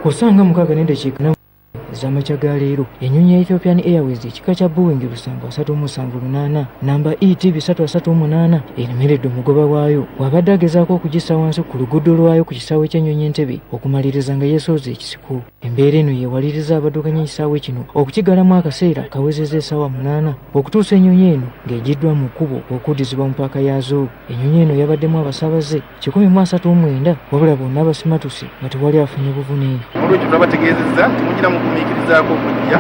ku ssaawa nga mukaaga n'eddakiika na ez'amakya ga leero ennyonyi ya ethiopian airways ekika kya boeing lusanvu asatu omusanvu lunaana namba et bisatu asatu omunaana eremeredde omugoba waayo bw'abadde agezaako okugissa wansi ku luguudo lwayo ku kisaawe ky'ennyonyi entebe okumaliriza nga yeesooza ekisiko embeera eno yeewaliriza abaddukanya ekisaawe kino okukigalamu akaseera kawezeza esaawa munaana okutuusa ennyonyi eno ng'egiddwa mu kkubo okuddizibwa mu paaka yaazo ennyonyi eno yabaddemu abasaabaze kikumi mu asatu omwenda wabula bonna abasimatuse nga tewali afunye buvune olwekyo twabategeezezza timugira mu gumiikirizaako okujja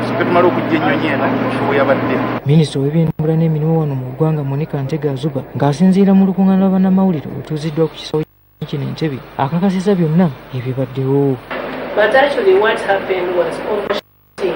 tusooke tumala okujja ennyonyi eno ofuwe yabadde minisita ow'ebyentambula n'emirimu wano mu ggwanga monika ntega azuba ng'asinziira mu lukuŋŋaana lwa bannamawulire olutuuziddwa ku kisawo kino entebe akakasiza byonna ebibaddewo But actually what happened was overshooting.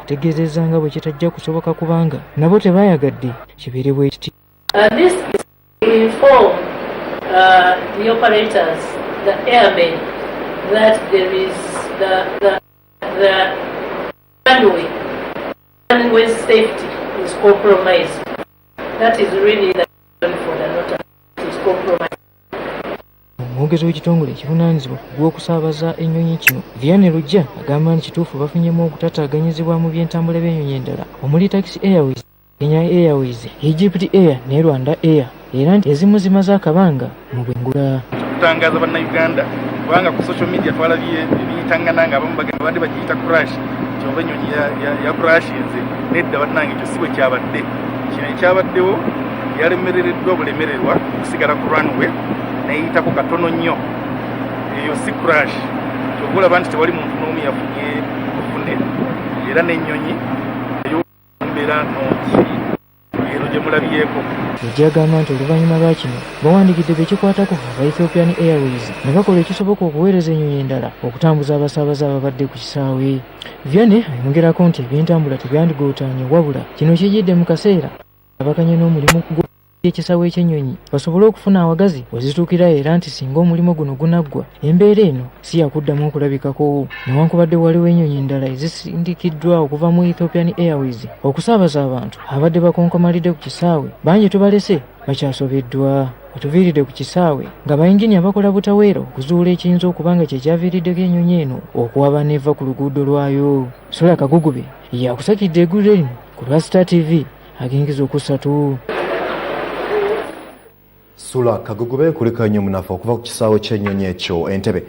ategeezezza nga bwe kitajja kusoboka kubanga nabo tebayagadde kibeere bwe kiti uh, That is really the for the not is compromised. omwogezi w'ekitongole ekivunaanyizibwa ku gw'okusaabaza ennyonyi kino viane lujja agamba nti kituufu bafunyemu okutataaganyizibwa mu byentambula by'ennyonyi endala omuli taxi airways kenya airways egypt air ne rwanda air era nti ezimu zimaze akabanga mu bwengula okutangaza bannayuganda kubanga ku social media twalabye ebiyitangana nga abamu bagamba bandi bagiyita crash nti oba ennyonyi ya crash nze nedda bannange ekyo si bwe kyabadde kino ekyabaddewo yalemerereddwa bulemererwa okusigala ku runway neyitako katono nnyo eyo si crash kyova olaba nti tewali muntu n'omu yafunye bufune era n'ennyonyi eyombeera nungi eno gye mulabyeko Lujja agamba nti oluvannyuma lwa kino bawandigidde bekikwatako aba Ethiopian Airways ne bakola ekisoboka okuweereza ennyonyi endala okutambuza abasaabaze ababadde ku kisaawe Vianney ayongerako nti ebyentambula tebyandigootaanye wabula kino kijidde mu kaseera abaganya n'omulimu gwo ekisawo ekyennyonyi basobole okufuna awagazi wezituukira era nti singa omulimu guno gunaggwa embeera eno si yakuddamu okulabikako newankubadde waliwo ennyonyi endala ezisindikiddwa okuva mu ethiopian airways okusaabaza abantu abadde bakonkomalidde ku kisaawe bangi tubalese bakyasobeddwa otuviiridde ku kisaawe nga bayinginiya bakola butaweera okuzuula ekiyinza okuba nga kyekyaviiriddeko ennyonyi eno okuwaba neeva ku luguudo lwayo sula kagugube yakusakidde egulire lino ku lwa star tv agengeza okusatu sula kagugube kulika nnyo munafa okuva ku kisaawe ky'ennyonyi ekyo entebe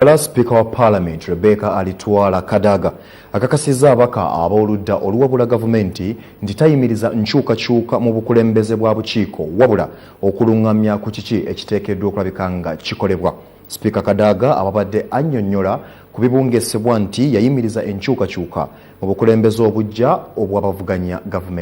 Era sipiika wa paalamenti Rebecca Alitwala Kadaga akakasizza abaka ab'oludda oluwabula gavumenti nti tayimiriza nkyukakyuka mu bukulembeze bwa bukiiko wabula okulungamya ku kiki ekiteekeddwa okulabika nga kikolebwa. Sipiika Kadaga ababadde annyonnyola ku bibungesebwa nti yayimiriza enkyukakyuka mu bukulembeze obuggya obw'abavuganya gavumenti.